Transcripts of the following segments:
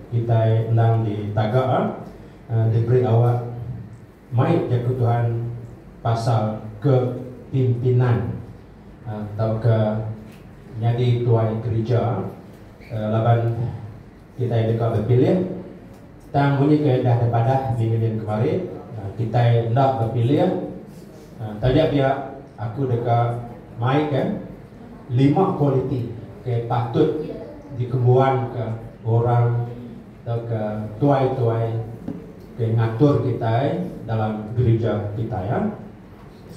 kitai endang ditaga diberi awak mai Jaku Tuhan pasal kepimpinan tauka nyadi tuai gerija laban kitai deka bepilih tang munyi ke dah dipadah minggu dian kemari kitai enda bepilih Taja pia, aku deka maika lima kualiti ke patut dikembuanka orang tauka tuai-tuai ke ngatur kitai dalam gerija kitai.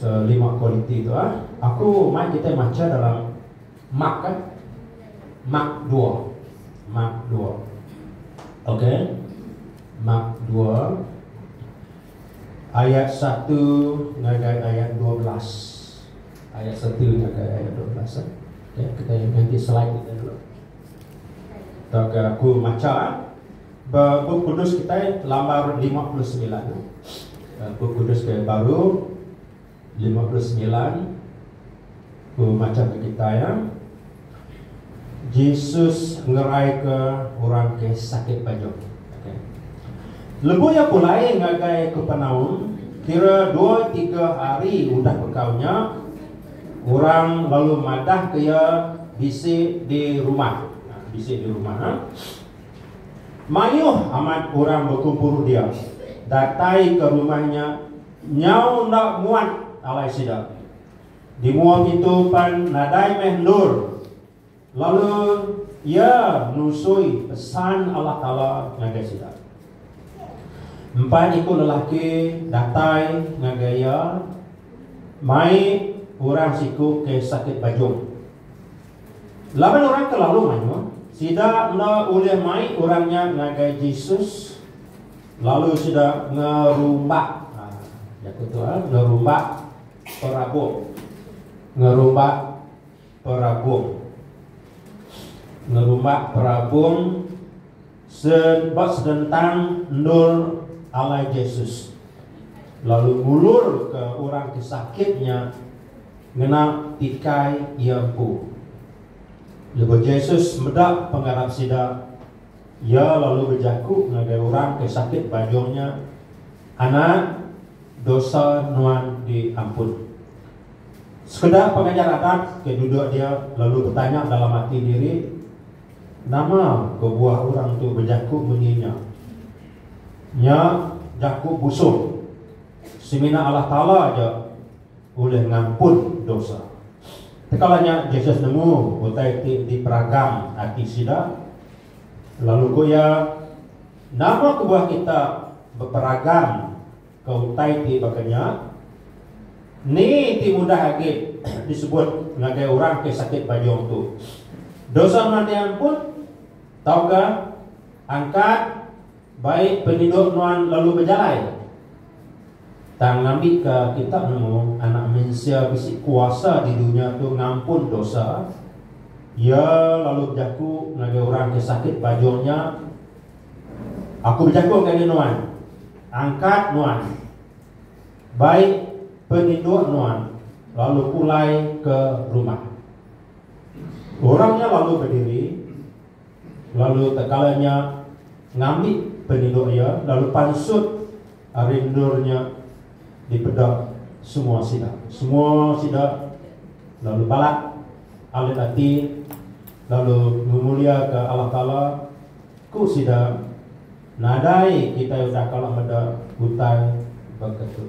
So, lima kualiti tu, aku mai kitai macha dalam Mark. Mark dua. Mark dua. Okay. Mark dua. ayat satu ngagai ayat dua belas. Ayat satu ngagai ayat dua belas. Eh. Okay, kita ganti slide kita dulu. Tauka aku maca eh. Buku kudus kita lambar 59. Eh. Eh, buku kudus ke baru Lima puluh semilan, Ku macamka kitai iya, Jesus ngeraika orang ke sakit panyuk. Lebuh iya pulai ngagai Kapernaum, kira dua tiga hari udah bekau nya, orang lalu madahka iya bisi di rumah. Bisi di rumah. Mayuh amat orang bekumpul dia, datai ke rumah nya. Nyau enda muat alai sida. Di mua ngintu pan nadai meh endur. Lalu Iya nusui pesan Allah Taala ngagai sida. Empat iku lelaki datai ngagai Iya mai orang siku ke sakit bajung. Laban orang ke lalu mayuh, sida enda ulih mai orang nya ngagai Jesus. Lalu sida ngerumbak, ha, jaku tu, ha, ngerumbak perabung. Ngerumbak perabung. Ngerumbak perabung sebab sedentang endur alai Jesus. Lalu ngulur ke orang ke sakitnya ngena tikai iya empu. Lebuh Jesus meda pengarap sida, Iya lalu bejaku ngagai orang ke sakit bajung nya, Anak, dosa nuan diampun. Sekeda pengajar adat ke duduk dia lalu betanya dalam ati diri, Nama kebuah orang tu bejaku munyi nya? Nya jaku busung. Semina Allah Taala aja. ulih ngampun dosa. Tekala nya Jesus nemu utai ti diperagang ati sida, lalu ku iya, Nama kebuah kita beperagang ke utai ti baka nya? Ni ti mudah agi disebut ngagai orang ke sakit bajong tu? Dosa meh diampun, tauka angkat Bai penyindok nuan lalu bejalai. Tang ngambika kita nemu Anak Mensia bisi kuasa di dunya tu ngampun dosa, Iya lalu bejaku ngagai orang ke sakit bajung nya, Aku bejaku ngagai nuan, angkat nuan, bai penyindok nuan lalu pulai ke rumah. Orang nya lalu bediri. Lalu tekala nya ngambi penyedok iya lalu pansut ari endur nya dipeda semua sida. Semua sida lalu balat alit ati lalu ngemuliaka Allah Taala. Ku sida, Nadai kitai udah kala meda utai baka tu.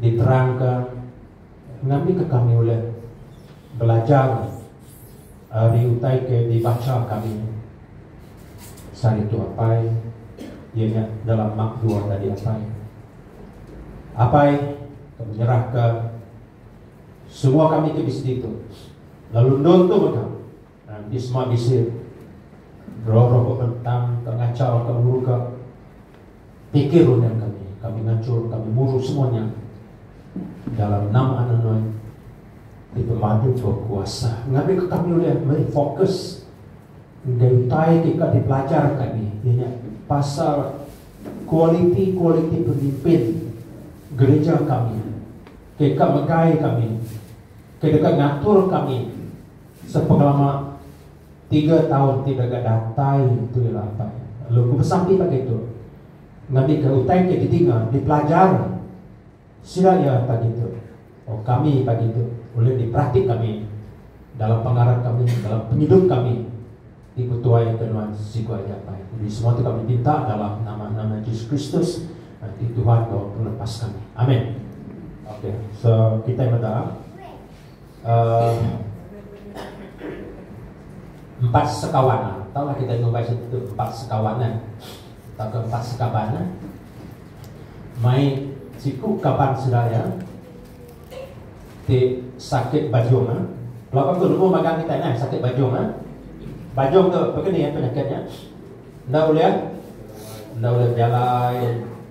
diterangka ngambika kami ulih belajar ari utai ke dibacha kami sehari tu apai iya nya dalam mak dua tadi apai apai ke menyerahka semua kami ke di sdi tu lalu nuntung ka. Enti sema bisi roh-roh bebentang ke ngachau ke ngeruga pikir udah kami, kami ngachur kami muru semua nya dalam nama anak nuan ti pemadu bekuasa ngambika kami ulih meri fokus enggau utai ti ka dipelajar kami iya nya pasal kualiti-kualiti pemimpin gereja kami ke ka megai kami ke deka ngatur kami Sepengelama tiga taun ti dega datai tu iya datai lalu ku pesan ti tadi tu ngambika utai ke ditinga, dipelajar sida iya tadi tu tau kami tadi tu ulih diperatik kami dalam pengarap kami dalam pengidup kami ti betuai ke nuan siku ari datai. Jadi semua tu kami minta dalam nama nama Jesus Kristus ti Tuhan enggau Pelepas kami. Amen. Okay. So kitai meda. empat sekawan lah. Tahu lah kita ngumbai macam tu, empat sekawan lah. Tahu ke empat sekaban lah. Mai siku kaban seraya, ti sakit bajung lah. Kalau aku nemu magang kita lah, sakit bajung lah. Bajung tu, apa ni ya penyakitnya? Nda boleh, nda boleh berjalan,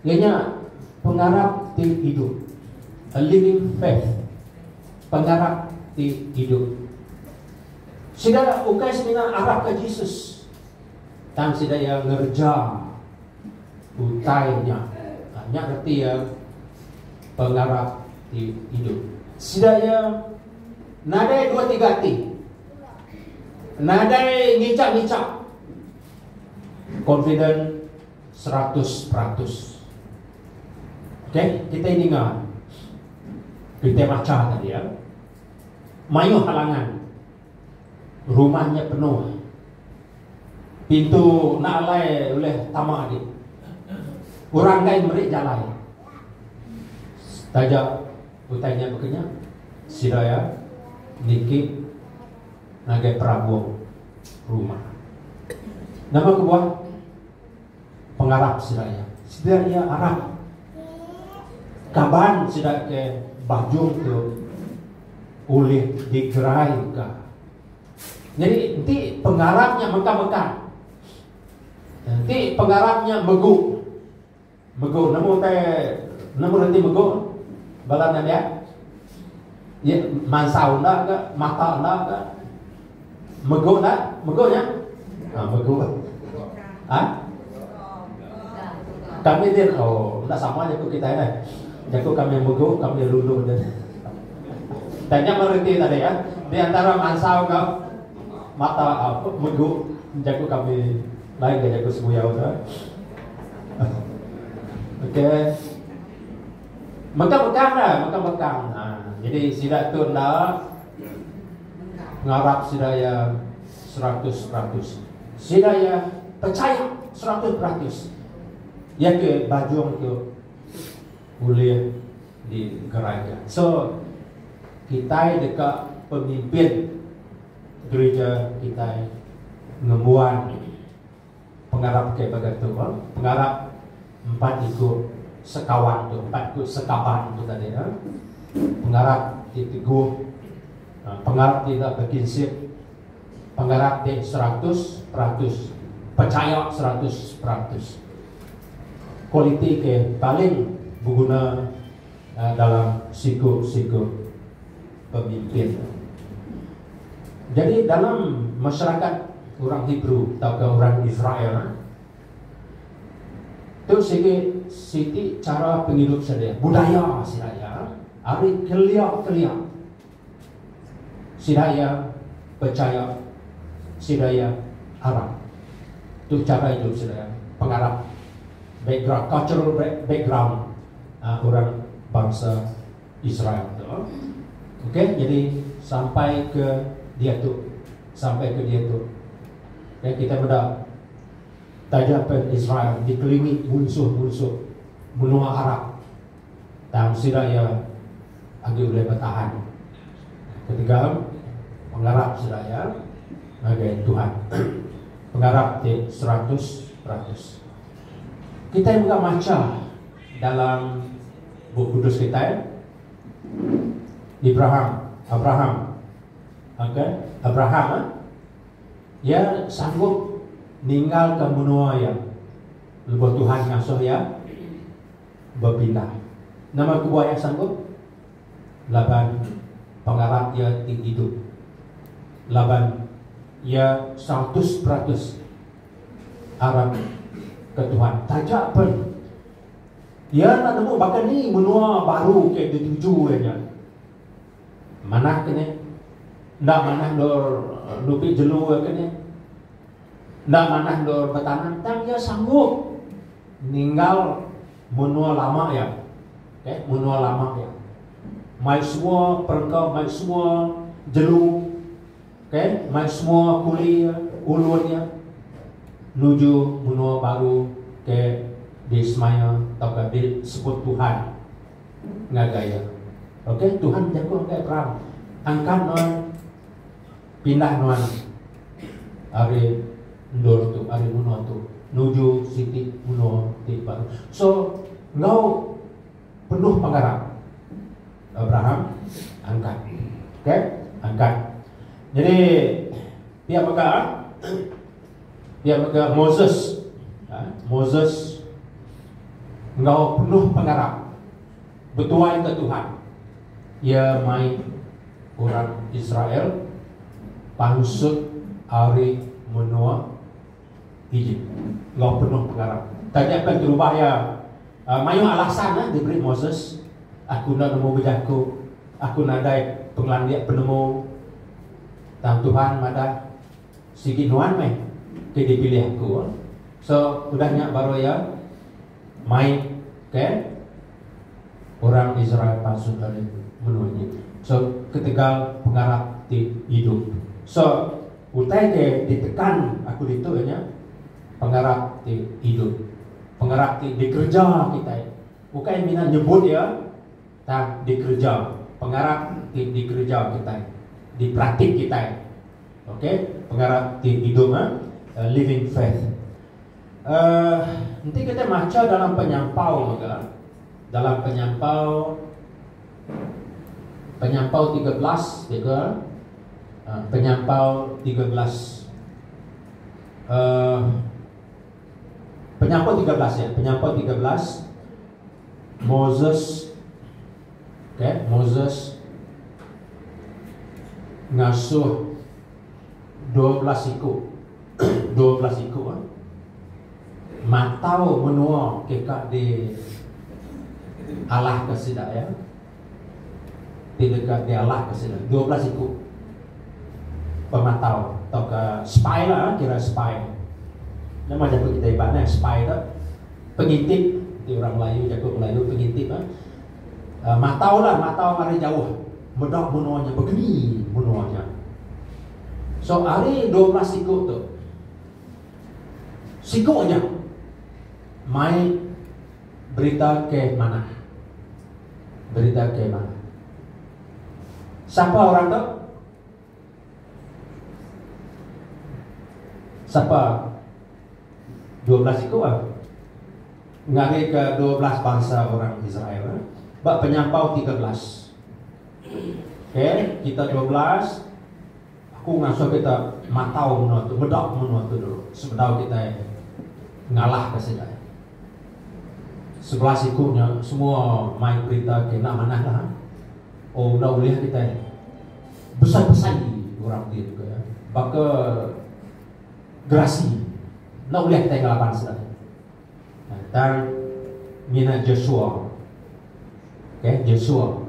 Iya nya pengarap ti idup, a living faith, pengarap ti idup. Sida ukai semina arapka Jesus, tang sida iya ngereja utai nya. Ha, nya reti iya pengarap ti idup. Sida iya nadai dua tiga ati. Nadai ngichap-ngichap. Confident seratus peratus. Okey, kita ninga kita baca tadi ya. Mayuh halangan. Rumahnya penuh. Pintu nak alai oleh tama dia. Orang lain beri jalan. Taja utainya bukannya sida ya niki ngagai perabung rumah. Nama kebuah pengarap sida iya? Sida iya arap kaban sida ke bajung tu ulih digeraika. Nyadi enti pengarap nya mekang-mekang, enti pengarap nya megu, Mego nemu utai nemu reti mego bala nembiak ye mansau enda ga mata enda ga mego enda mego nya ha mego ha kami din oh enda sama jaku kita dah jaku kami mego kami lulu din tanya mereti tadi ya di antara mansau ga mata uh, mego jaku kami lain ga jaku semuyau tu Okey. Mekang-mekang dah, mekang-mekang. Ha. Jadi sida tu enda ngarap sida ya seratus peratus. Sida ya percaya seratus peratus. Ya ke bajung tu boleh digerai. So, kita dekat pemimpin gereja kita ngemuan Pengarap ke baka tu bah, pengarap empat iku sekawan tu, empat iku sekaban tu tadi nya. Pengarap ti teguh, pengarap ti enda bekinsip, pengarap ti seratus peratus, pechaya seratus peratus. Kualiti ke paling beguna. dalam siku-siku pemikir. Jadi dalam masyarakat orang Hebrew tauka orang Israel tu sigi siti chara pengidup sedia, budaya sida iya ari kelia-kelia. Sida iya pechaya sida iya arap. Tu chara idup sida iya pengarap background cultural background orang bansa Israel tu. Ok jadi sampai ke diatu sampai ke diatu ok kita meda taja pen Israel dikelilingi munsuh-munsuh menua arap. tang sida iya agi ulih betahan. Ketiga, pengarap sida iya ngagai Tuhan. Pengarap ti seratus peratus. Kitai mega macha dalam Bup Kudus kitai, Abraham, Abraham, okey, Abraham, eh? iya sanggup ninggalka menua iya lebuh Tuhan ngasuh iya. bepindah. Nama kebuah iya sanggup? Laban pengarap iya ti idup. Laban iya seratus peratus arap ke Tuhan. Taja pen, iya enda nemu baka ni menua baru ke dituju iya nya. Manah ke ni? Enda manah endur nupi jelu iya ke ni? Enda manah endur betanam tang iya sanggup ninggal menua lama iya. Okey, menua lama iya. Mai semua perengka, mai semua jelu. Okey, mai semua kuli iya, ulun iya nuju menua baru ke disemaya tauka disebut Tuhan ngagai iya. Okey, Tuhan bejaku ngagai Abraham, Angkat nuan. pindah nuan ari endur tu ari menua tu nuju siti menua ti baru so enggau penuh pengarap Abraham angkat okey angkat jadi pia mega pia mega Moses ha? Moses enggau penuh pengarap Betuaika Tuhan, iya mai orang Israel pansut ari menua Ejip enggau penuh pengarap. Taja pen terubah iya mayuh alasan diberi Moses, Aku enda nemu bejaku, aku nadai pengelandik penemu. Tang Tuhan madah, Sigi nuan meh ti dipilih aku. So udah nya baru iya. Mai ke orang Israel palsu tadi menua nya. So ketegal pengarap ti idup. So utai ke ditekan aku ditu iya nya pengarap ti idup. Pengarap ti dikereja kitai. Ukai mina nyebut iya tang dikereja. Pengarap ti dikereja kitai. Diperatik kitai. Okay. Pengarap ti idup eh. Living faith. Uhh enti kitai macha dalam penyampau mega dalam penyampau penyampau tiga belas mega uhh penyampau tiga belas uhh penyampau tiga belas ya penyampau tiga belas Moses okay Moses ngasuh dua belas siku dua belas iku eh matau menua ke ka di alah ke sida iya ti deka di alah ke sida dua belas iku pematau tauka spy la kira spy Nya mah jaku kita Iban eh spy tu pengintip ti orang Melayu jaku Melayu pengintip eh uh, matau lah matau mari jauh meda menua nya begeni menua nya So ari dua belas siku tu siku aja mai berita ke manah. Berita ke manah. Sapa orang tu? Sapa dua belas siku ah? Ngari ke dua belas bangsa orang Israel. Eh? Ba penyampau tiga belas. K, kita dua belas, aku ngasuh kita matau menua tu, meda menua tu dulu sebedau kitai ngalahka sida. Sebelah siku nya semua mai berita ke enda manahlah. Oh enda ulih kitai besai-besai orang ti ke baka gerasi. Enda ulih kitai ngelaban sida. Tang mina Joshua okay Joshua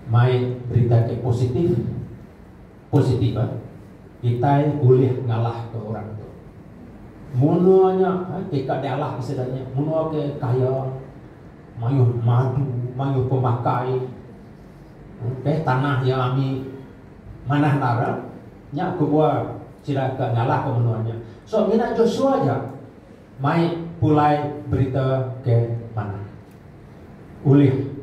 mai berita ke positif positif eh kitai ulih ngalah ke orang tu munua nya eh ti ka dialah ke sida nya munua ke kaya mayuh madu mayuh pemakai okay tanah iya ami manah endara. Nya kebuah sida ke nyalahka menua nya. So mina Joshua aja mai pulai berita ke manah ulih.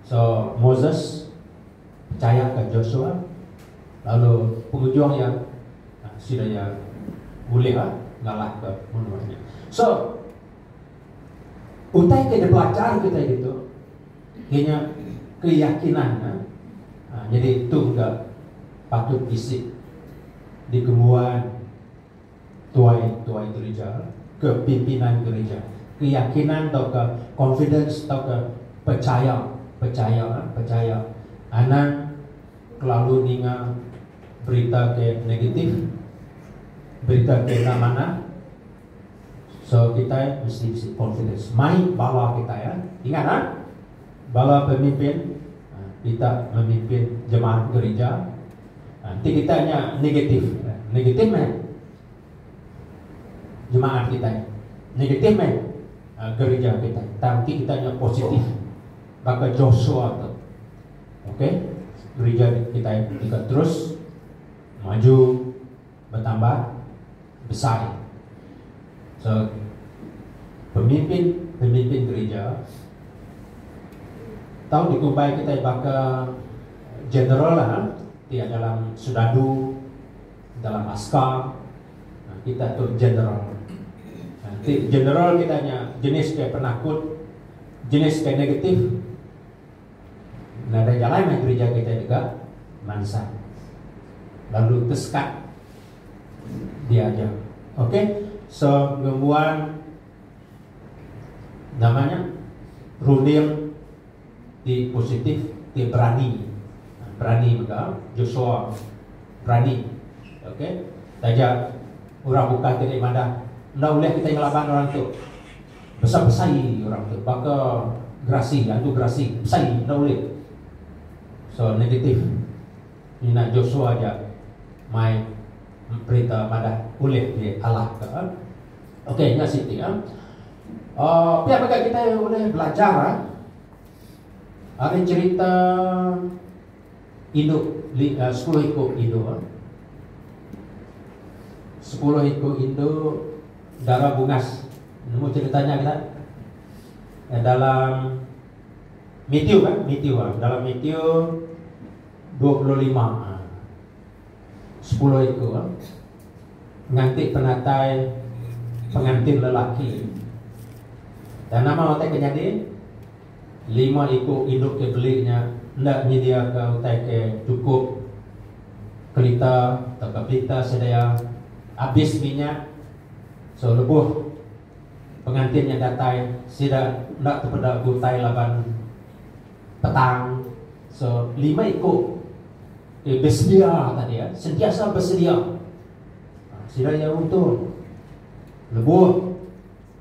So Moses pechayaka Joshua lalu pengujung iya sida iya ulih ngalahka menua nya. So utai ke dipelajar kitai ditu. Kinya keyakinan nya nyadi tu ga patut bisi dikembuan tuai-tuai gerija ke pimpinan gerija. Keyakinan tauka confidence tauka pechaya, pechaya, pechaya anang kelalu ninga berita ke negatif, berita ke enda manah. So kitai mesti bisi confidence mai bala kitai ya. Ingat ah bala pemimpin kita memimpin jemaat gerija enti kita nya negatif, negatif meh jemaat kitai, negatif meh gerija kitai. Tang enti kita nya positif baka Joshua tu. Okay, gerija kitai deka terus maju. betambah besai. So pemimpin-pemimpin gerija tau dikumbai kitai baka general lah ha ti ada dalam serdadu dalam askar ha kita tu general. Ha ti general kita nya jenis ke penakut jenis ke negatif. Nadai jalai mai gerija kitai deka mansang lalu tesekat dia aja. Ok so ngembuan nama nya runding ti positif ti berani berani mega Joshua berani ok taja orang bukai ti deh madah enda ulih kitai ngelaban orang tu. Basa besai orang tu baka gerasi antu gerasi besai enda ulih so negatif mina Joshua aja mai perintah madah ulih di alah ka ok nya siti ya pia mega kitai ulih belajar ari cerita Indu sepuluh iku indu Sepuluh iku indu Dara bungas Nemu cerita nya kita eh, Dalam Mitiu kan Mitiu Dalam Mitiu 25 ha. Sepuluh iku nganti penatai pengantin lelaki. Tang nama utai ke nyadi? Lima iku indu ke beli nya enda nyediaka utai ke chukup. Kerita tauka printer sedia abis minyak. So lebuh pengantin nya datai sida enda tepeda utai laban. Petang, so lima iku ti besedia tadi ya, sentiasa besedia. Sida iya untung lebuh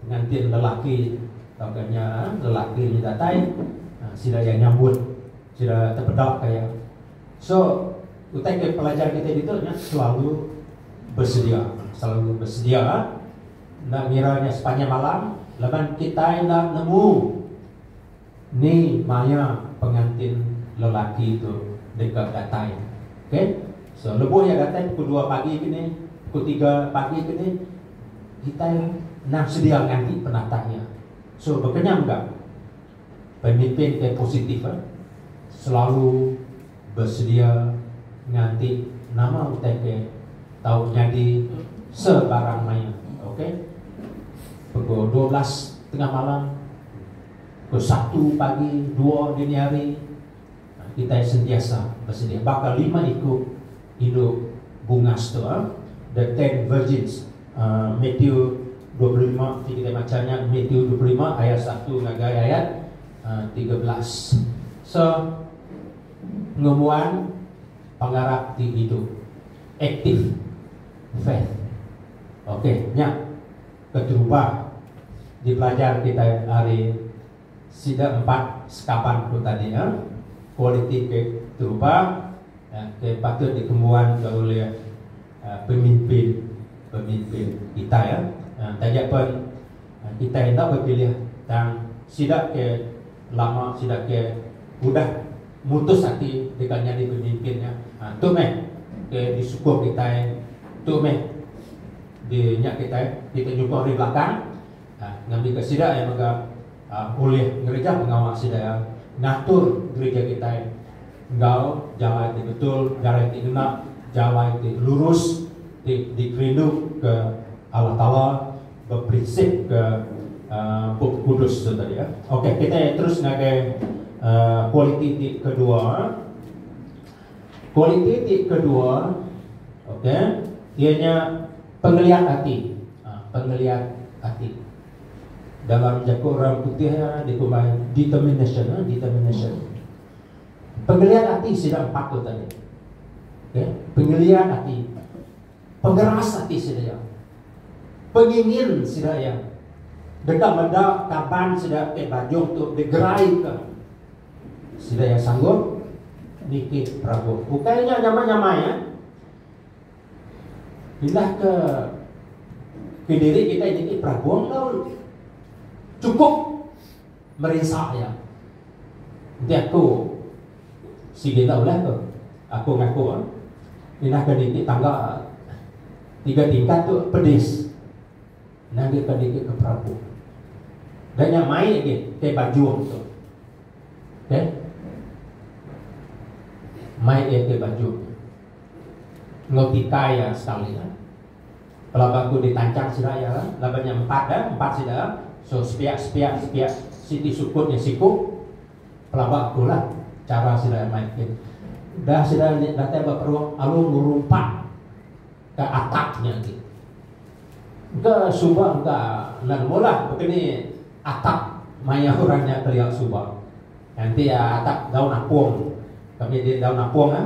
pengantin lelaki tauka nya lelaki nya datai, sida iya nyambut, sida tepedaka iya. So, utai ke pelajar kita ditu nya selalu besedia, selalu besedia enda ngira nya sepanjang malam laban kitai enda nemu. Ni maya pengantin lelaki tu deka datai? Okey. So, lebuh iya datai pukul dua pagi ke ni, pukul tiga pagi ke ni, kitai endang sedia nganti penatai iya. So, bekenyam ga, pemimpin ke positif eh selalu besedia nganti nama utai ke tau nyadi sebarang maya. Okey. Pukul dua belas tengah malam. Ke Sabtu pagi, dua dini hari, kitai sentiasa besedia. Baka lima iku indu bungas tu, the ten virgins, Mathew dua puluh lima ti kitai macha nya, Mathew dua puluh lima ayat satu ngagai ayat tiga belas. So, ngembuan pengarap ti idup. Active faith. Okay, nya. keterubah dipelajar kitai ari sida empat sekaban tu tadi nya, kualiti ke terubah ke patut dikembuanka ulih pemimpin-pemimpin kitai. Taja pen kitai enda bepilih tang sida ke. lama sida ke udah mutus ati deka nyadi pemimpin nya ha tu meh ke disukung kitai tu meh di nya kitai kitai nyukung ari belakang ha ngambika sida iya mega ha ulih ngereja pengawa sida iya ngatur gereja kitai enggau jalai ti betul jalai ti ngena jalai ti lurus ti dikerindu ke Allah Taala. Beprinsipka Bup Kudus tu tadi. Okey, kitai terus ngagai kualiti ti kedua. Kualiti ti kedua, okey, iya nya pengeliat ati. Ha, pengeliat ati. Dalam jaku orang putih dikumbai determination, ha, determination. Pengeliat ati sida empat tu tadi. Okey, pengeliat ati. Pengeras ati sida iya. Pengingin sida iya. Deka meda kaban sida ti bajong tu digeraika. Sida iya sanggup nitih perabuh. Ukai nya nyamai-nyamai eh. Pindah ke kediri kitai nitih perabuh enggau chukup. Merinsa iya. Enti aku sigi enda ulih tu. Aku ngaku inah ke niti tangga tiga tingkat tu pedis. Inah agi ke niti ke perapu. Dan nya mai agi ke bajung tu. Okay. Mai agi ke bajung. Ngau tikai ya sekali. Ya. Pelaba ku ditanchang sida iya kan laban nya empat kan empat sida kan so sepiak sepiak sepiak siti sukut nya siku pelaba aku lah cara sida mai ke dah sida datai ba peruk alu ngerumpak ke atap nya ti ke suba ke nan nemu lah bekeni atap maya orang nya kelia suba nanti atap daun apung kami di daun apung kan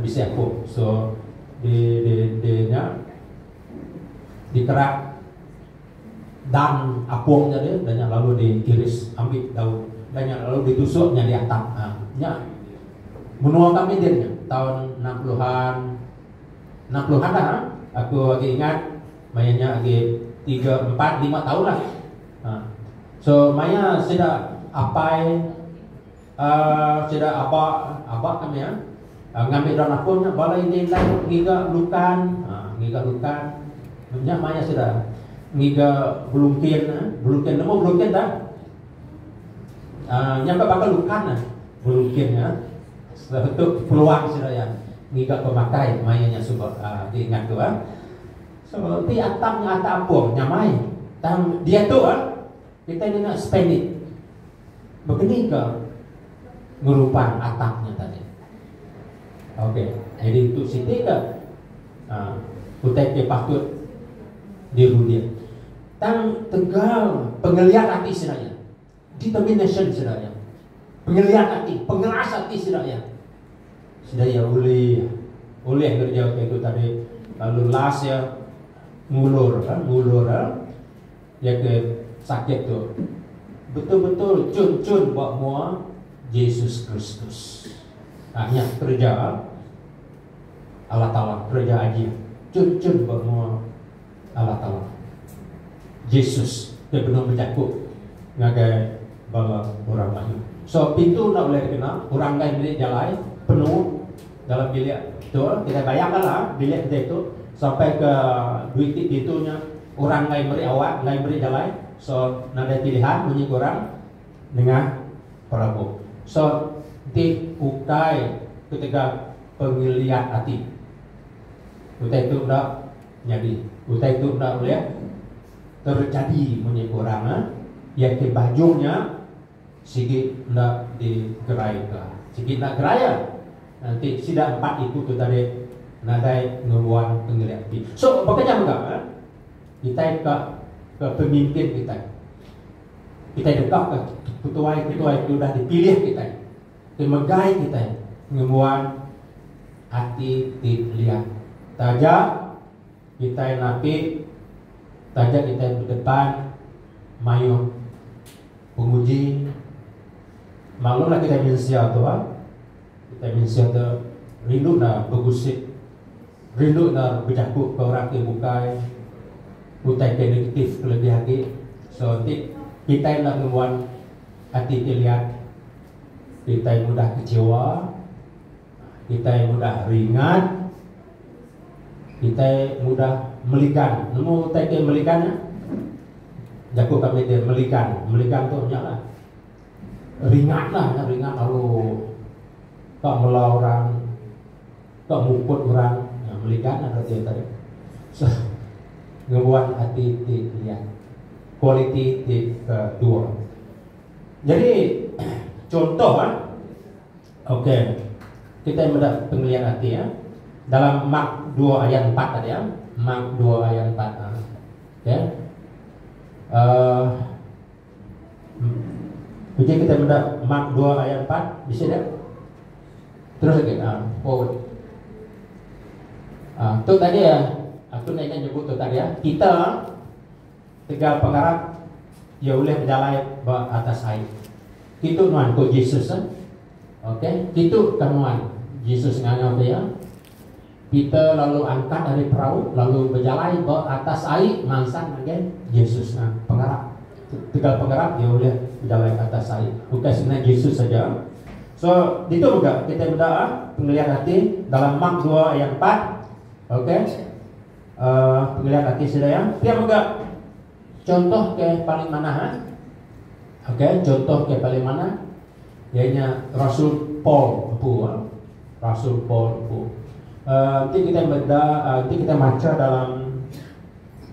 bisi aku so di di di nya dikerak dang apung nya deh dah nya lalu di iris ambi daun dah nya lalu di tusuk nya di atap ha nya menua kami din nya tahun 60-an 60-an dah ha? aku agi ingat maya nya agi 3 4 5 tahun lah ha so maya sida apai Sida aba aba kami ya ngambi daun apun nya bala indi indai dok ngiga lukan ngiga lukan nya maya sida ngiga belungkin belungkin nemu belungkin dah nya ka bakal lukan nah belungkin nya sebetul peluang sida ya ngiga pemakai maya nya suba di ingat tu ah so ti atap nya atap apung nyamai tang dia tu ah Kitai deka spend it begeni ke ngeruban atak nya tadi. Okey, jadi tu siti ke uh, utai ke patut dirudik. Tang tegal pengeliat hati sida ya. Determination sida ya. Pengeliat hati, pengeras hati sida ya. Sida ya boleh boleh kerja ke itu tadi lalu last ya ngulur kan ngulur kan Iya ke sakit tu betul-betul chun-chun ba mua Jesus Kristus. Ha, nya kereja Allah Taala, kereja ajih chun-chun ba mua Allah Taala. Jesus ke benung bejaku ngagai bala orang mayuh. So pintu enda boleh dikena, orang gai meli jalai penuh dalam bilik tu, kita bayar bala bilik kita itu sampai ke duit ti pintu nya orang enggai meri awak enggai meri jalai so nadai pilihan munyi korang nengah perabu so enti ukai ketegal pengeliat ati utai tu enda nyadi utai tu enda ulih terjadi munyi korang ia ke baju nya. Sigi enda di gerai ka. Sigi enda gerai ya. Nanti sida empat iku tu tadi nadai ngembuan pengelik ti. So baka nya mega eh. Kitai ka ke pemimpin kitai. Kitai deka ka ketuai-ketuai ti udah di pilih kitai ti megai kitai ngembuan ati ti liat. Taja. Kitai napi taja kitai bedepan mayuh penguji. Maklumlah kitai mensia tu bah. Kitai mensia tu rindu enda begusip, rindu enda bejaku ke orang ti bukai utai ke negatif kelebih agi. So enti kitai enda ngembuan ati ti liat, kitai mudah kecewa. Kitai mudah ringat. Kitai mudah meligan. Nemu utai ke meligan nya? Jaku kami dia meligan. Meligan tu nya lah. Ringat lah. Nya ringat lalu tak mula orang. Tak mukut orang. Nya meligan lah ada dia tadi. So, ngebuat hati ti liat. Kualiti ti kedua. Jadi, contoh lah. Ok. Kitai meda pengelian ati ya. Dalam Mark dua ayat empat tadi ya. Mark dua ayat empat. Ha. Ok. Uh, Uji kita meda Mark dua ayat empat. Bisa tak? Terus lagi. Ha. Forward. Ha. Tu tadi ya. Aku nak ingat nyebut tu tadi ya. Kita tegal pengarap ia boleh berjalan ke atas air. Kitu nuan, ku Jesus. Ok, kitu ka nuan, Jesus ngangau ke iya. Peter lalu angkat ari perau lalu bejalai ba atas ai mansang ngagai Jesus. Nah, pengarap tegal pengarap dia ulih bejalai ke atas ai. Bukan sebenarnya Jesus saja. So, itu juga kita benda ah, pengeliat hati dalam Mark 2 ayat 4. Okey. Uh, pengeliat hati sila ya. Dia juga Chontoh ke paling manah eh. Ok chontoh ke paling manah iya nya Rasul Paul empu eh. Rasul Paul empu. Uh, enti kita meda uh, enti kita macha dalam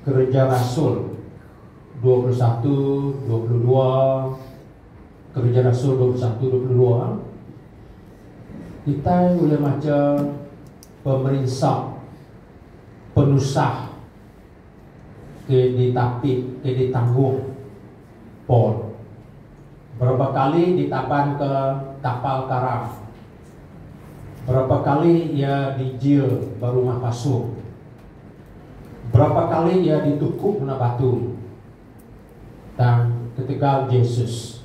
kerja rasul 21 22 kerja rasul 21 22 kita boleh macha pemerinsa penusah ke ditapi ke ditanggung Paul berapa kali ditabanka kapal karam, berapa kali iya dijil ba rumah pasu, berapa kali iya dituku ngena batu. Tang ketegal Jesus,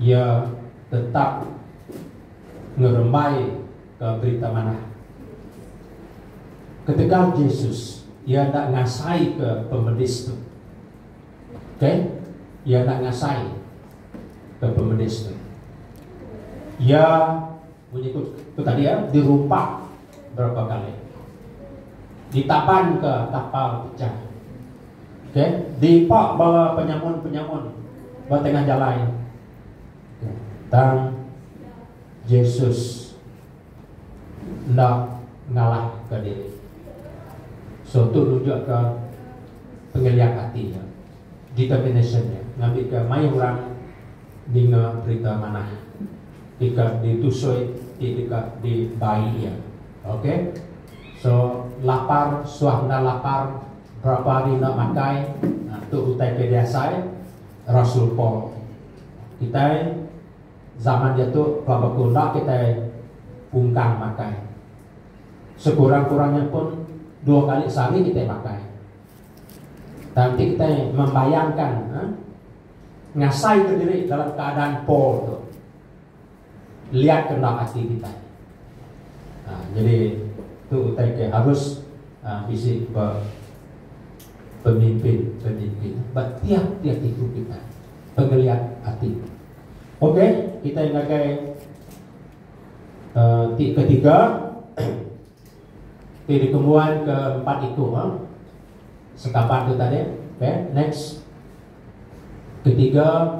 iya tetap ngerembai. ke Berita Manah. Ketegal Jesus, iya enda ngasaika pemedis tu. Okey? Iya enda ngasai ke pemedis tu. Iya munyi ku, ku tadi ya, dirumpak berapa kali. Ditaban ke tapal pecah. Okey? Dipak bala penyamun-penyamun ba tengah jalai Tang Jesus enda ngalahka diri. So tu nunjukka pengeliak ati iya, determination iya ngambika mayuh orang ninga berita manah ti ke ditusui ti deka dibai iya. Ok. So lapar suah enda lapar berapa hari enda makai, tu utai ke diasai. Rasul Paul. Kitai zaman diatu pelaba ke enda kitai pungkang makai. Sekurang-kurangnya pun dua kali sehari kitai makai. Tang enti kitai membayangkan ngasaika diri dalam keadaan Paul tu. Liat ke endang ati kitai. Aa nyadi tu utai ke harus aa bisi be pemimpin pemimpin ba tiap tiap iku kitai pengeliat ati. Ok kitai ngagai aa ti ketiga ti dikembuan ke empat iku aa sekaban tu tadi. Ok next ketiga.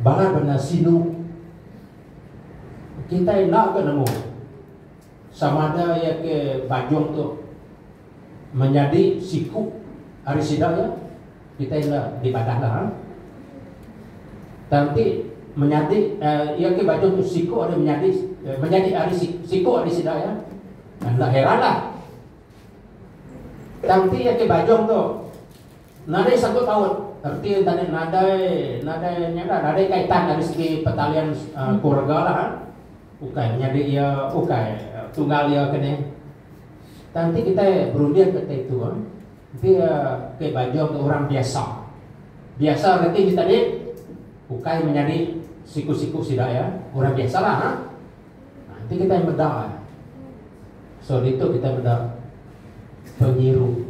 Balat bendar sinu kitai enda ke nemu sama ada iya ke bajong tu menyadi siku ari sida iya kitai enda dibadah dah ah. Tang ti menyadi uh, iya ke bajong tu siku ari menyadi uh, menyadi ari siku ari sida iya. Enda heranlah. Tang ti iya ke bajong tu Nadai sagut paut reti enta nya nadai nadai nya dah nadai kaitan ari segi pertalian keluarga lah eh ukai menyadi iya ukai tunggal iya ke nih tang ti kitai berunding ke ti tu eh enti iya ke bajong ke orang biasa biasa reti nya tadi ukai menyadi siku-siku sida iya orang biasa lah eh enti ha, kitai meda so ditu kitai meda penyiru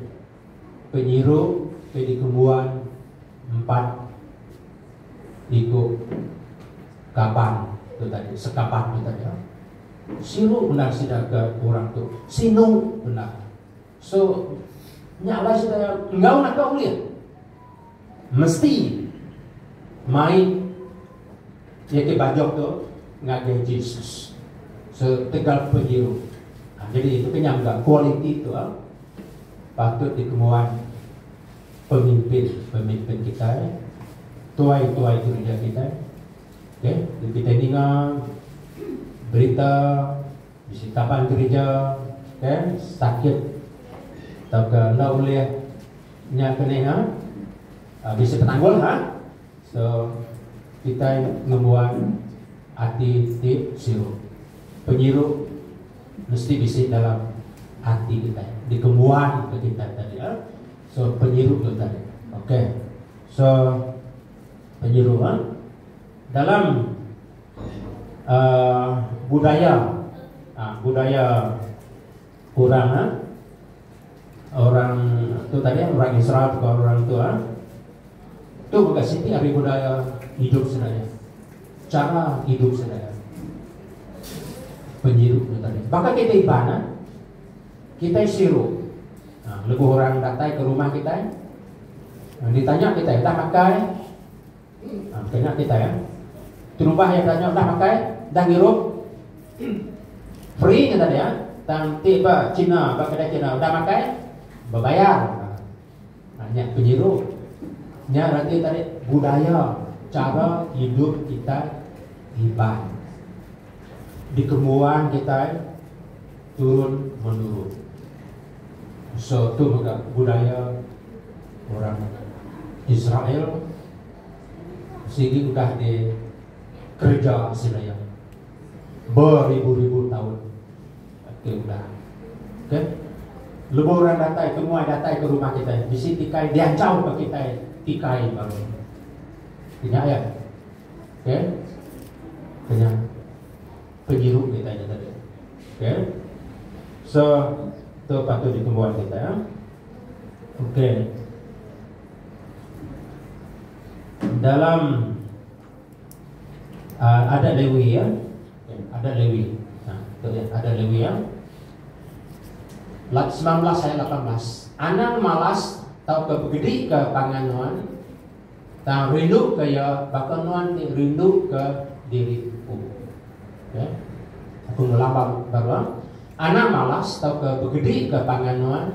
penyiru ke dikembuan empat iku kaban tu tadi, sekaban tu tadi. Siru bendar sida ke orang tu. Sinu bendar. So, nya alai sida enggau naka ulih. Mesti mai nitih bajuh tu ngagai Jesus setegal penyiru. Ha, jadi itu kenyang ga kualiti tu ha, patut dikemuan pemimpin-pemimpin kitai, tuai-tuai gereja kitai. Okay, bila kitai ninga berita bisi kaban gereja okay, sakit tauka enda ulih Nya ke ninga bisi penanggul ha so kitai ngembuan ati ti siru. Penyiru mesti bisi dalam ati kitai dikembuan ke kitai tadi ha so penyiru tu tadi ok so penyiru ha dalam uhh budaya uhh budaya. orang ha orang tu tadi ha, orang Israel bukan orang tu ha. Tu maka siti hari budaya hidup sedaya. Cara hidup sedaya. Penyirup tu tadi. Baka kita iban ha. Kita sirup. Ha, lebuh orang datang ke rumah kita. Ha, ditanya kita, dah makan? Kena kitai eh. Terubah iya belanja udah makai, udah ngirup. Free nya tadi eh. Tang ti ba China, ba kedai China udah makai, bebayar. Ha, nya penyiru. Nya reti tadi budaya cara hidup kita Iban. Dikembuan kita turun menurun. So tu mega budaya orang Israel sigi udah di kereja sida iya beribu-ribu taun ati udah. Okey. Lebuh orang datai ke muai datai ke rumah kitai bisi tikai diancau ke kitai tikai baru. Inya ya. Okey. Inya. penyiru kitai nya tadi. Okey. So, tu patut ditembuan kitai. Ya. Okey. Dalam uh, adat Lewi ya. Okay. Adat Lewi. Ha, tu ya, adat Lewi ya. Lap 19 ayat 18. Anang malas tau ke begedi ke pangan nuan Tang rinduka iya baka nuan ti rinduka diri empu. Okay. Aku ngelabang ba nuan. Anak malas tauka begedika pangan nuan,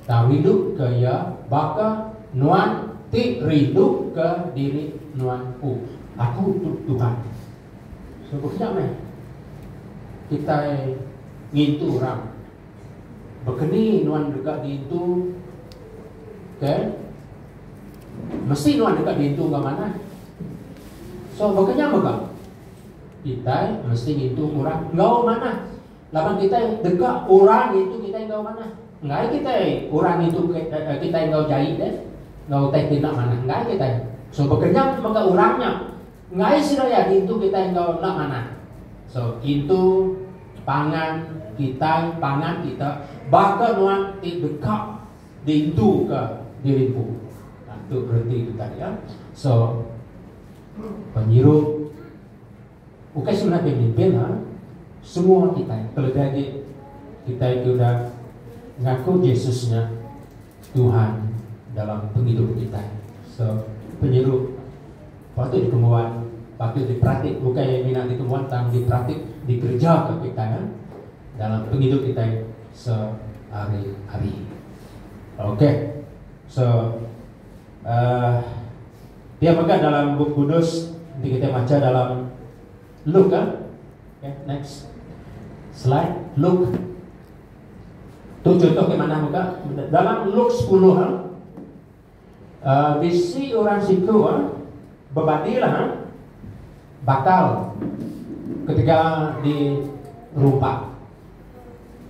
tang rinduka iya baka nuan ti rinduka diri nuan empu. Aku tu Tuhan. So, bekeja meh kitai ngintu orang Bekeni nuan deka diintu ke mesti nuan deka diintu enggau manah. So baka nya mega kitai mesti ngintu orang enggau manah. Laban kitai deka orang ngintu kitai enggau manah. Enggai kitai orang ngintu eh, kitai enggau jai deh. Enggau utai tina manah enggai kitai. So baka nya mega orang nya Enggai seraya ditu kitai enggau enda manah. So kintu pangan kitai pangan kita baka nuan ti deka diintu ke diri empu. Nah tu bereti kitai ya. So penyirup bukai semina pemimpin ha semua kitai kelebih agi kitai ti udah ngaku Jesus nya Tuhan dalam pengidup kitai. So penyirup Patut dikembuan, patut diperatik bukai iya mina dikembuan tang diperatik dikerejaka kitai ya dalam pengidup kitai sehari-hari. Okey. So uh, dia mega dalam buku kudus nanti kita baca dalam Luke kan? Okay, next slide Luke tu contoh ke mana muka dalam Luke 10 kan? Bisi orang siku bebadil bakal ketegal di rumpak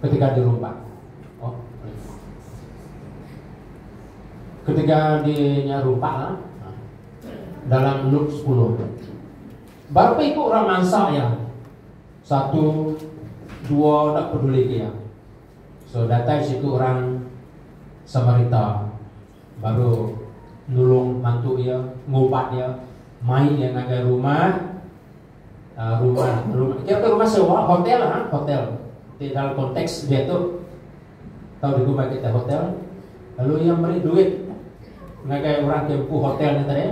ketegal di rumpak oh ketegal di nya rumpak dalam Luke sepuluh. Berapa iku orang mansa iya? Satu, dua enda peduli ke iya. So datai siku orang Samarita baru nulung mantu iya, ngubat iya, mai iya ngagai rumah uh, rumah rumah kira ke rumah sewa hotel ha hotel di dalam konteks dia tu tau digumbai kita hotel lalu ia beri duit ngagai orang ke buku hotel ni tadi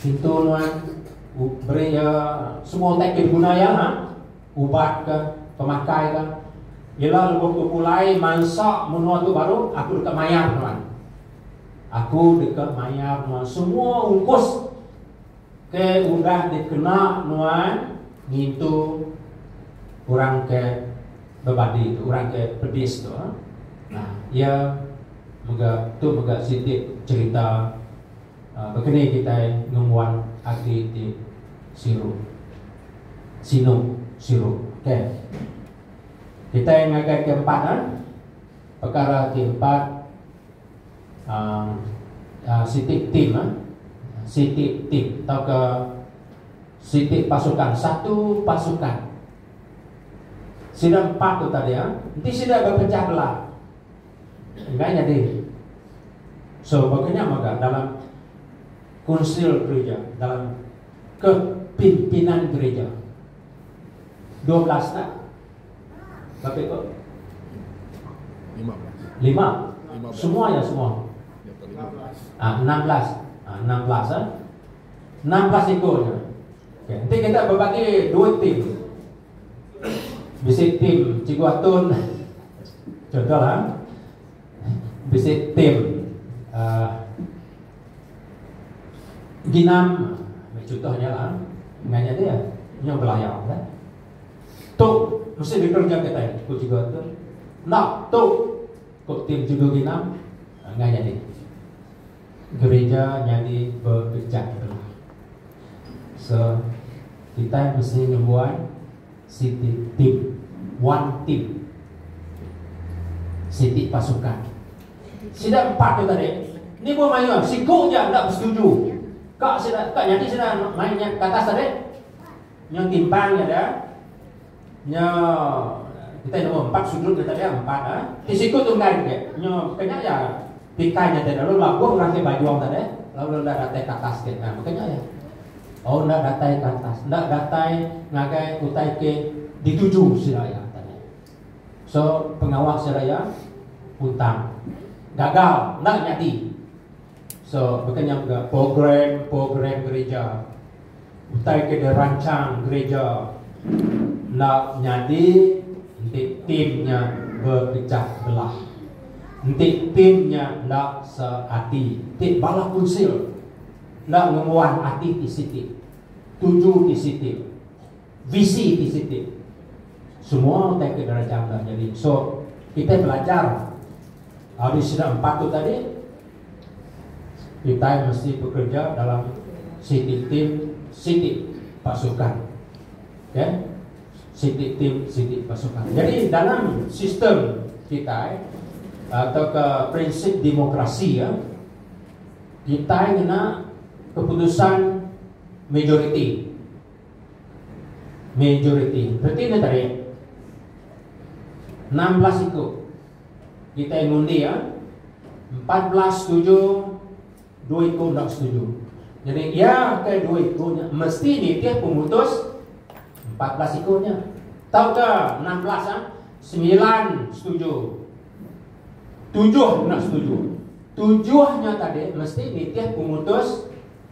pintu nuan beri ya semua tak ke guna ya ha ubat ke, pemakai ke. Ila lebuh ku pulai mansa menua tu baru, aku deka mayar nuan. Aku deka mayar nuan semua ungkus ke udah dikena nuan ngintu orang ke bebadi tu, orang ke pedis tu. Ha. Nah, ia mega tu mega siti cerita Baka ni kitai ngembuan ati ti siru, sinu, siru. Okey. Kitai ngagaika empat a pekara ti empat a siti tim a, siti tim tauka siti pasukan, satu pasukan. Sida empat tu tadi a, enti sida bepecah belah. enggai nyadi. So baka nya mega dalam kunsil gerija, dalam kepimpinan gerija dua belas ka baka iko lima semua ya semua ah enam belas ah enam belas ah enam belas iko nya. Enti kita bebagi dua tim. Bisi tim Cikgu Atun contoh lah bisi tim uh, ginam contoh nya lah nganya dia nya belayar kan tu mesti dikerja kita ku Cikgu Atun nak tu ku tim Cikgu Ginam nganya dia Gerija nyadi bebijak bela. So kitai mesti ngembuan siti tim, one team. Siti pasukan. Sida empat tu tadi ni buah mayuh siku aja enda besetuju ka sida ka nyadi sida mai nya ke atas tadi. Nya timpang nya da. Nya kita nombor empat sudut kita dia empat ah. Ti siku tu enggak dia. Nya kena ya tikai nya dia lalu lagu orang ke bajong tadi lalu dah datai ke atas ke nah makanya ya. Oh ndak datai ke atas, ndak datai ngagai utai ke dituju sila ya tadi. So pengawa sila ya hutang. Gagal ndak nyadi. So, baka nya mega program-program gerija utai ke diransang gerija enda nyadi enti tim nya bepecah belah, enti tim nya enda seati, enti bala kunsil enda ngembuan ati ti siti, tuju ti siti. Visi ti siti semua utai ke dirancang enda nyadi. So, kitai pelajar ari sida empat tu tadi, kitai mesti bekereja dalam siti tim, siti pasukan. Okay. Siti tim, siti pasukan. Jadi, dalam sistem kitai, atau ke prinsip demokrasi, ya, kitai ngena keputusan majoriti. Majoriti peti netarik enam belas iku kitai ngundi ya empat belas setuju dua iku enda setuju. Jadi ya ke dua iku nya mesti nitih pemutus empat belas iku nya. Tau ke enam belas ya sembilan setuju tujuh enda setuju. Tujuh nya tadi mesti nitih pemutus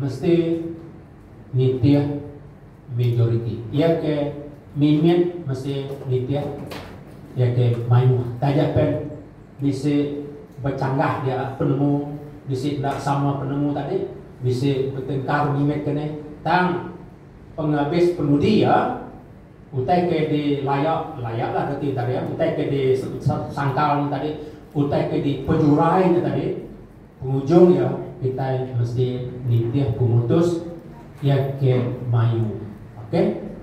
Mesti nitih majoriti. Iya ke mimit mesti nitih iya ke mayuh. Taja pen bisi bechanggah dia penemu bisi enda sama penemu tadi bisi betengkar mimit ke nih. Tang pengabis penudi iya utai ke di laya laya lah reti tadi iya utai ke di sangkal nya tadi utai ke di pejurai nya tadi. Pengujung iya, kitai mesti nitih pemutus iya ke mayu. Ok,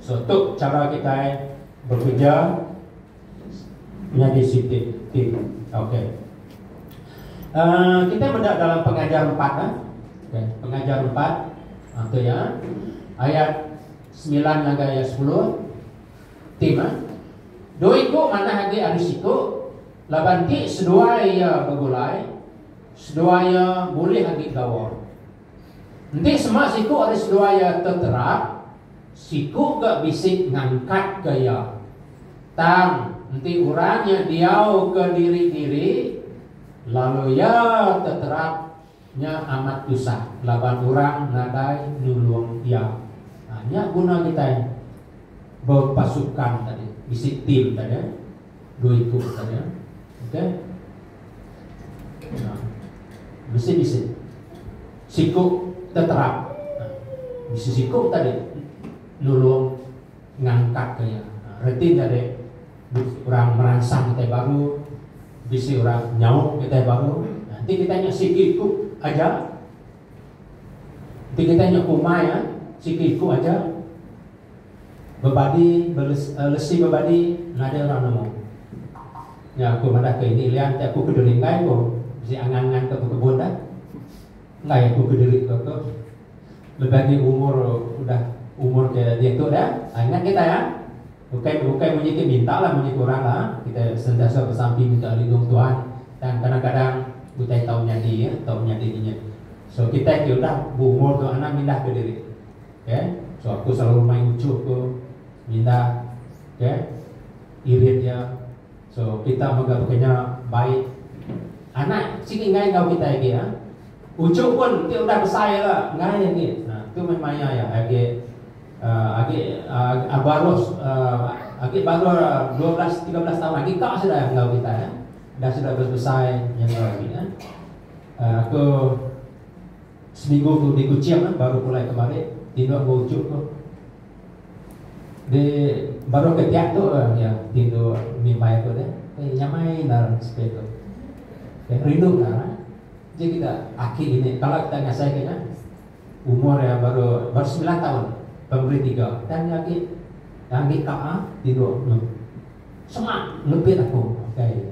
so tu chara kitai bekereja nyadi siti tim. Ok. Uh, kitai meda dalam pengajar empat. Eh? Okay. Pengajar empat. Itu ah, ya. Ayat sembilan hingga ayat sepuluh. Tim. Eh? Dua iku mana lagi hari siku. Laban ti seduai iya begulai, seduai iya bulih agi gawa. Enti sema siku ari seduai iya teterak, siku ga bisi ngangkatka iya. Tang, enti orang nya diauka diri-diri, lalu iya teterak, Nya amat tusah laban orang nadai nulung iya. Nya guna kitai bepasukan tadi, bisi tim tadi. Dua iku tadi. Okey. Nah. Bisi-bisi. Siku teterap. Bisi siku tadi nulung. Ngantak ke iya. Reti nya dek, bisi orang meransang kitai baru, bisi orang nyauk kitai baru. Enti kitai nya siti iku aja, enti kitai nya kumai a, siti iku aja, bebadi, lesi bebadi, nadai orang nemu. Nya aku madah ke ini lian ti aku ke Dringgai ko, bisi angan-angan ke bekebun dah. Enggai aku ke diri ko tu. Lebih agi umur udah umur ke diatu dah. Ha ingat kitai ha. Bukai bukai munyi ti minta lah munyi ti orang lah. Kitai sentiasa besampi minta lindung Tuhan tang kadang kadang utai tau nyadi ya tau nyadi inya. So kitai ti udah bu umur tu anang mindah ke diri. Okay. So aku selalu mai uchup ko mindah okay irit ya. So kita mega bekenya bai anak sigi enggai enggau kita agi ah. Uchu pun ti udah besai la enggai agi. Nah, tu meh maya ya agi uh, agi uh, baru uh, agi baru 12 13 tahun agi kak sudah enggau kita ya. Dah sudah besai yang enggau agi ya. Uh, aku seminggu tu di Kuching eh, baru pulai kemarin tinduk aku uchu tu. Di baru ke tiap tu iya ti endo mimbai aku deh eh nyamai endar spirit tu eh rindu endar eh je kita aki ini kala kita ngasai ke nya umur iya baru baru semilan taun primary tiga tang iya agi tang agi ka a ti dua semak ngebit aku okay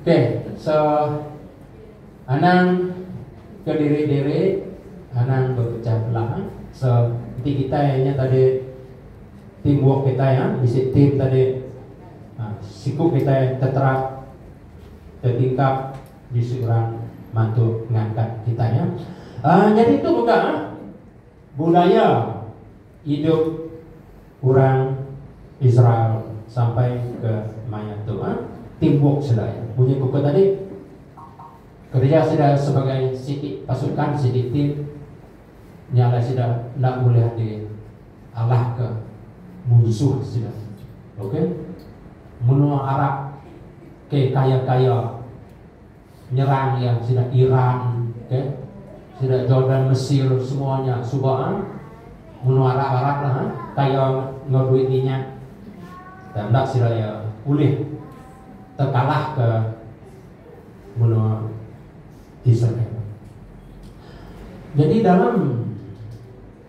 Ok so anang kediri-diri anang bepecah belah eh. So enti kitai nya tadi team work kitai ha bisi team tadi ha, siku kitai teterap tetingkap bisi orang mantu ngangkat kitai ha. Uh, jadi tu mega ha. Budaya idup orang Israel sampai ke maya tu eh timbuk selai. Munyi ku ku tadi kereja sida sebagai siti pasukan siti tim nya alai sida enda bulih di alah ke munsuh sida. Okey. Menua Arab ke kaya-kaya Nyerang iya sida Iran okay sida Jordan Mesir semua nya suba ah menua Arab Arab lah ah kaya enggau duit minyak tang enda sida iya ulih tekalah ke menua Israel. Jadi dalam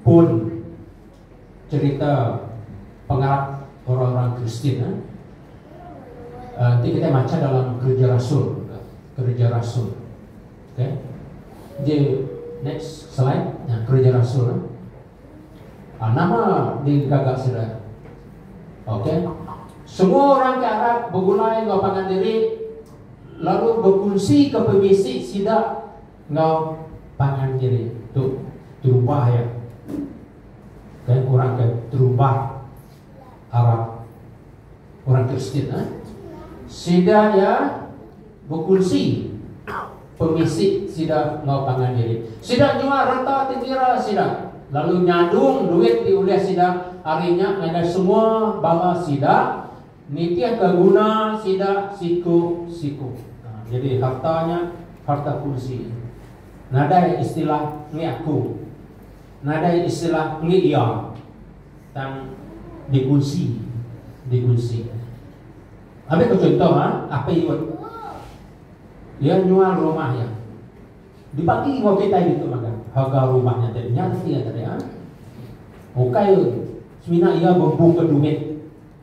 pun cerita pengarap orang-orang Kristian eh, ti kita macha dalam kerja rasul juga. Kerja rasul. Okay. Jadi, next slide. Nah, kerja rasul. Eh. Ah, nama digagak sudah. Okay. Semua orang ke Arab bergulai dengan pangan diri lalu berkunsi ke pemisi sida Enggau tangan kiri tu terubah iya ke orang ke terubah arap orang Kristian eh. Sida iya bekunsi pemisi sida enggau tangan diri. Sida nyual reta ti kira sida lalu nyadung duit ti ulih sida ari nya ngagai semua bala sida Nitihka guna sida siku-siku. Nyadi harta nya harta kunsi. Nadai istilah mih aku. Nadai istilah mih iya. Tang dikunsi. Dikunsi. Ambi ku chuntoh ha, Apai Yut. Iya nyual rumah iya. Dibagi enggau kitai ditu magang. Harga rumah nya ti nya reti iya tadi ha. Ukai semina iya bembuka dumit.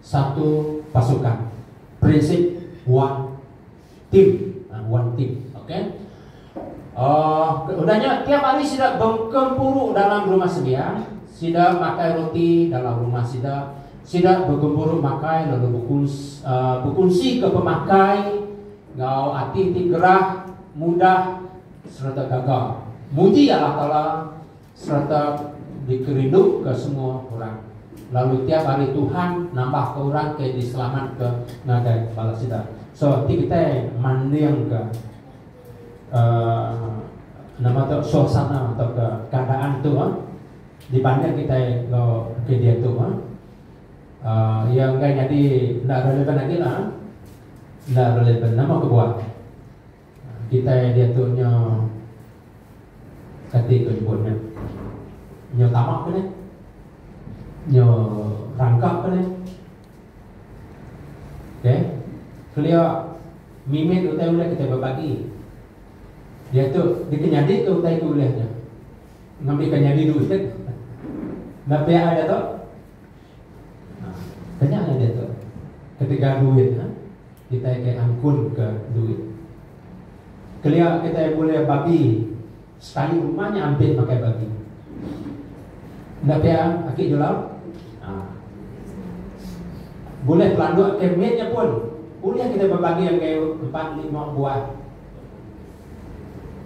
satu pasukan prinsip one team ha, one team okey uh, udah nya tiap hari sida bergempuru dalam rumah sebian sida makan roti dalam rumah sida sida bergempuru makan lalu berkunsi, uh, berkunsi ke pemakai ngau ati ti gerah mudah serta gagal muji Allah Taala sereta dikerinduka semua orang, lalu tiap hari Tuhan nambahka orang ke diselamatka ngagai bala sida. So ti kitai mandingka uh, nama tu suasana atau ke keadaan tu uh, dibanding kitai lo ke dia tu uh, uh, yang enggak jadi ndak relevan lagi lah. Ndak relevan nama kebuat. Kitai diatu nyo kati ko nyebut nya nyo tama ke nek nyo rangka ke nek ok kelia mimit utai ulih kitai bebagi diatu dikenyadi ke utai ke ulih nya ngambi ke nyadi duit na pia ada to ha kenya nya diatu ketegal duit ha kitai ke angkunka duit. Kelia kitai bulih babi sekali uma nya ampit makai babi. Enda pia aki Julau? Haa. Bulih pelanduk ke mit nya pun ulih kitai bebagi enggai empat lima buah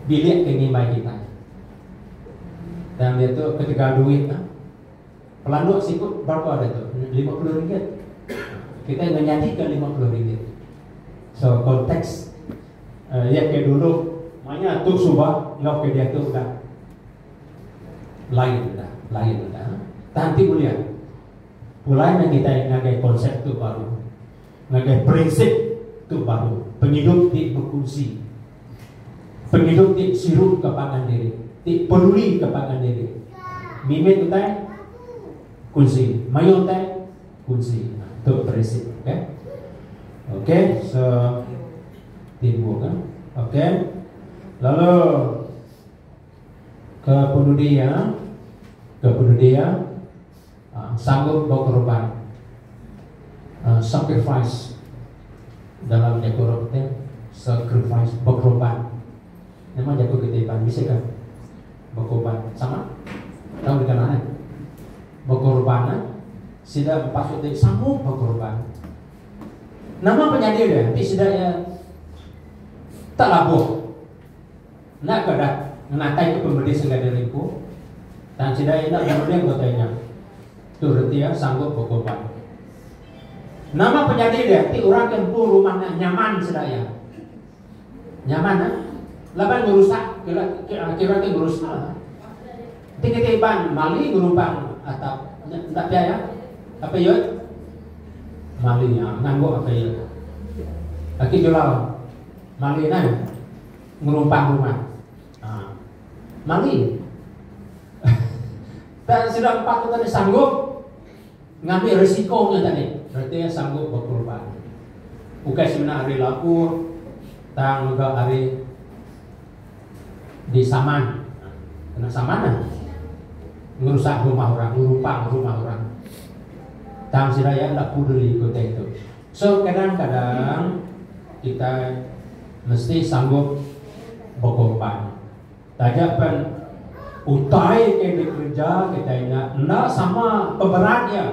bilik ke ngimbai kitai. Tang diatu ketegal duit tu. Pelanduk siku berapa hari tu? Lima puluh ringgit. Kita ingat nyadi ke lima puluh ringgit. So konteks uh, ya ke dulu manya tu suba ngau ke dia tu dah lain dah, lain dah. Tanti mulia. Pulai nak kita ngagai konsep tu baru. Ngagai prinsip tu baru. Pengidup ti berkunsi. pengidup ti sirupka pangan diri, ti pedulika pangan diri. Mimit utai kunsi, mayuh utai kunsi. Tu prinsip. Okey. Okey, so timbul kan. Okey. Lalu ke penudi ya. Ke penudi ya. sanggup bekorban, sacrifice, dalam jaku orang Kitai, sacrifice, bekorban. Nama jaku kita Iban bisi ka? Bekorban. Sama? Tahu deka nah eh? Bekorban eh? Sida empat tu ti sanggup bekorban. Nama penyadi dia? Ti sida iya tak labuh. Enda ke dah ngenatai ke pemedis segada ripu, tang cedai enda berunding utai nya, tu reti iya sanggup bekorban. Nama penyadi dia ti orang ke empu rumah nya nyaman sedaya? Nyaman eh? Laban ngerusak kira ke ngerusak lah. Enti kitai Iban mali ngerubang atap nya enda pia iya? Apai Yut? Mali iya ngangguk apai iya. Aki Julau? Mali nai ngerumpang rumah. Ha. Mali. tak sudah empat tu tadi sanggup ngambil risikonya tadi. Berarti sanggup berkorban. Bukan sebenarnya hari lapur, tang juga hari di saman. Ha. Kena saman lah. Ngerusak rumah orang, ngerumpang rumah orang. Tang sida ya tak peduli kota itu. So kadang-kadang kitai mesti sanggup bekorban. Taja pen utai ke dikereja kitai nya enda sama peberat iya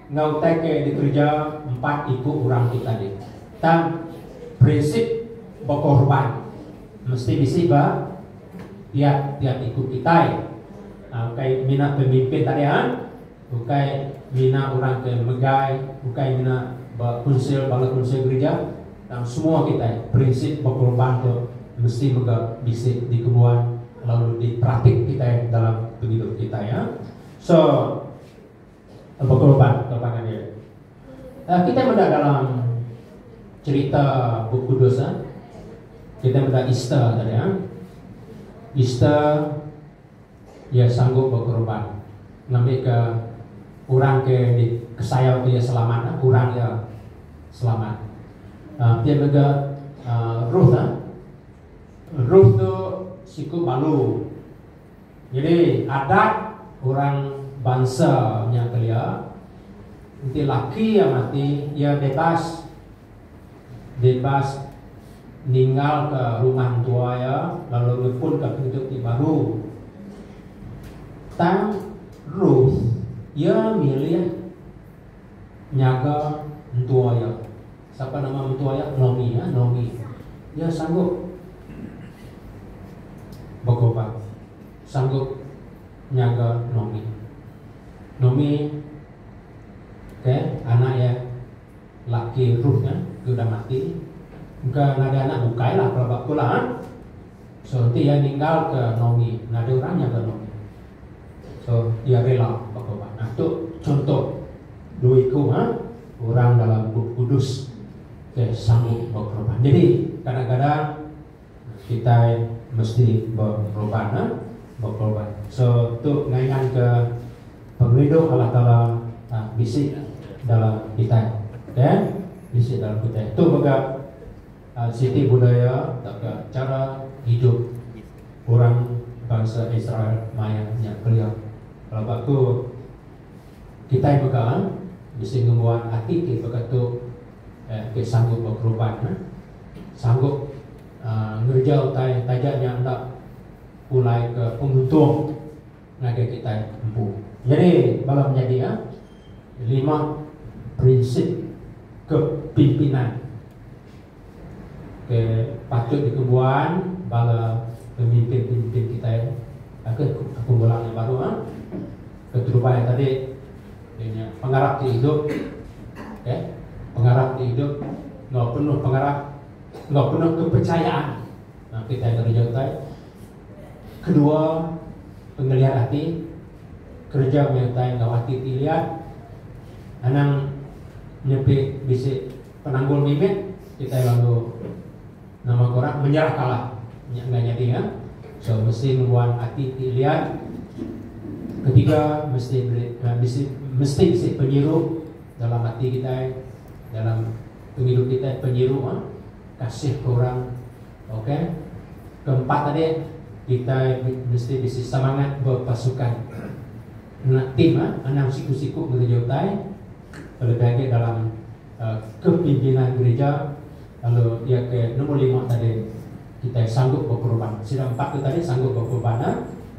enggau utai ke dikereja empat iku orang ti tadi. Tang prinsip bekorban mesti bisi ba tiap-tiap iku kitai. Ukai mina pemimpin tadi ha. Ukai mina orang ke megai, ukai mina ba kunsil bala kunsil gerija, tang semua kitai prinsip bekorban tu mesti mega bisi dikebuan lalu diperatik kitai dalam pengidup kitai ya. So bekorban ke pangan diri. Uh, kitai meda dalam cerita Bup Kudus ya. Kitai meda Easter tadi ya. Easter iya sanggup bekorban ngambika orang ke dikesayauka iya selamat, orang iya selamat. Ti mega Ruth. Ruth tu siku balu. Nyadi adat orang bansa nya kelia enti laki iya mati iya bebas. Bebas ninggalka rumah mentua iya lalu ngepunka pengidup ti baru. Tang Ruth iya milih nyaga mentua iya. Sapa nama mentua iya? Nomi ya, Nomi. Iya sanggup bekobat, sanggup nyaga Nomi. Nomi, okey, anak iya. Laki Ruth nya ke udah mati engka nadai anak bukailah pelaba aku lah. So enti iya ninggalka Naomi, nadai orang nyaga Naomi. So iya rela betobat. Nah tu chunto dua iku orang dalam Bup Kudus ke sanggup bekorban. Jadi kadang-kadang. Kitai mesti bekorban nah, bekorban. So tu ngayan ke pengerindu Allah Taala bisi dalam kitai. Okay, bisi dalam kitai. Tu mega siti budaya tauka chara hidup orang bansa Israel maya nya kelia. Kalau ba aku, kitai mega bisi ngembuan ati ti baka tu. ke sanggup bekeruban sanggup ngereja utai taja nya enda pulai ke penguntung ngagai kitai empu. Nyadi bala penyadi lima prinsip kepimpinan ke patut dikebuan bala pemimpin-pemimpin kitai ke pengulang nya baru. Keterubai tadi iya nya pengarap ti idup okey pengarap ti idup enggau penuh pengarap enggau penuh kepechayaan nah kitai ngereja utai kedua pengeliat ati kereja meh utai enggau ati ti liat anang nepi bisi penanggul mimit kitai lalu Nama ku rak menyerah kalah. Nya enda nyadi ya. So mesti ngembuan ati ti lian. Ketiga mesti beri mesti mesti bisi penyiru dalam ati kitai dalam pengidup kitai penyiru ah kasih ke orang okey. Keempat tadi kitai mesti bisi semangat bepasukan. Ngena tim ah anang siku-siku ngereja utai. Kelebih agi dalam kepimpinan gerija lalu iya ke nombor lima tadi kitai sanggup bekorban. Sida empat tu tadi sanggup bekorban nya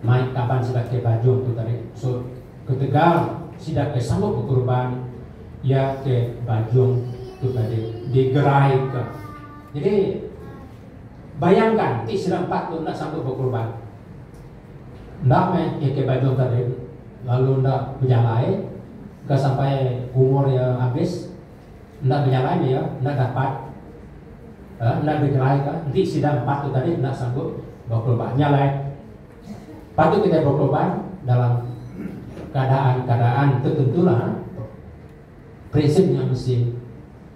mai kaban sida ke bajung tu tadi. So ketegal sida ke sanggup bekorban iya ke bajung tu tadi digeraika. Jadi bayangkan ti sida empat tu enda sanggup bekorban. Enda meh KK Bible Tarim lalu enda bejalai ga sampai umur iya habis. Enda bejalai meh iya enda dapat uhh enda digerai ka. Enti sida empat tu tadi enda sanggup bekorban nya alai patut kitai bekorban dalam keadaan-keadaan tertentu lah. Present nya mesti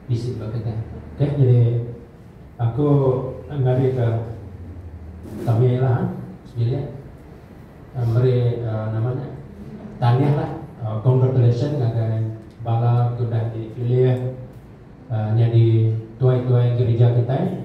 bisi ba kedah. Okay, jadi aku ngagai ke kami lah ha, sebilik uh, meri uh, nama nya tangih lah uh, congratulations ngagai bala ke udah dipilih uh, nyadi tuai-tuai gerija kitai.